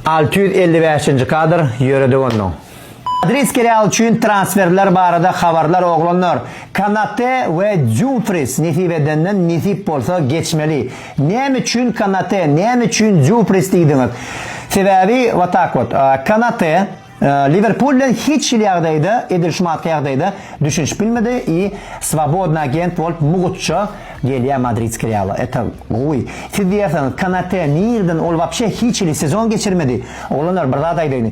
Alty ýüz elli bäşinji kadr, Ýöredik onnoň. Adris serialy üçin transferler barada habarlar oglanlar Konate we Dýumfris nesip edenden nesip bolsa geçmeli näme üçin Konate näme üçin Dýumfris diýdiňiz sebäbi watak wot Konate Liwerpul bilen hiç hili ýagdaýda, edil şu manysky ýagdaýda düşünişip bilmedi i swobodny agent bolup mugtça gelýä madridski Reala. Eta gowy. Siz diýersiňiz, Konate nirden, ol wapşe hiç hili sezon geçirmedi. Oglanlar bir zat aýdaýyny.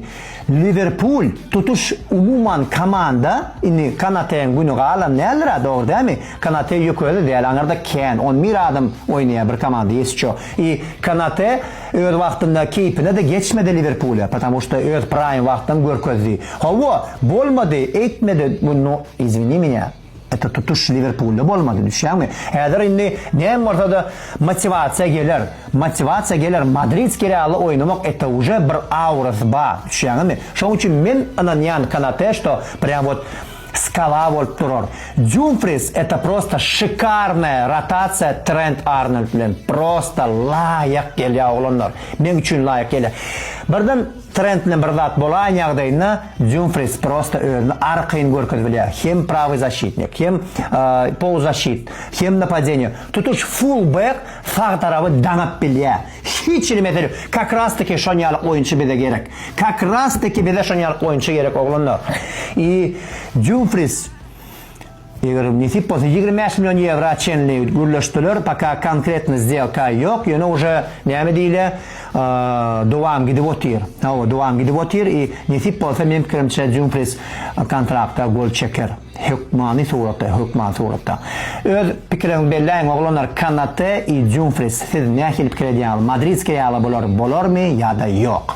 Liwerpul tutuş umuman komanda, indi Konateň güni galan däldir-ä, dogry dälmi? Konate ýökeli däl, aňyrda Ken, on bir adam oýnaýa bir komanda ýesço. I Konate Öz wagtynda keýpine-de geçmedi Liwerpule, patamu şta öz praým wagtyn görkezdi. Hawa, bolmady, eýtmedi, bu no, izwini mýa, eto tutuş Liwerpulda bolmady, düşýäňmi? Häzir indi näme bolsa-da motiwasiýa geler, motiwasiýa geler, madridskiý Realda oýnamak eto uje bir aurasy bar, düşýäňemi? Şoň üçin men ynanýan Konate şto prýam wot Skala bolup durar. Jumfris eta prosta şikarnaya rotatsiya Trent Arnold bilen prosta laýyk gelýä oglanlar. Meň üçin laýyk gelýä. Birden Trent bilen bir zat bolaýan ýagdaýynda Jumfris prosta özüni arkaýyn görkezip bilýä. Hem prawy zaşitnik, hem poluzzaşit, hem napadeniýe. Tutuş full bek sag tarapy daňyp bilýä. Hiç hili mesele ýok. Kakrasteki şonýaly oýunçy bize gerek. Kakrasteki bize şonýaly oýunçy gerek oglanlar. I Dumfris eger nesip bolsa ýigrimi bäş million ýewra çenli gürleşdiler, poka konkretny zdýelka ýok, ýöne uje näme diýle, dowam gidip otyr. Hawa, dowam gidip otyr i nesip bolsa meň pikirimçe Dumfris kontrakta gol çeker. Hökmany suratda, hökmany suratda. Öz pikiriňizi belläýiň oglanlar Kanate i Jumfris siz nähili pikir edýäňiz Madridskiý ýaly bolar bolarmy ýada ýok.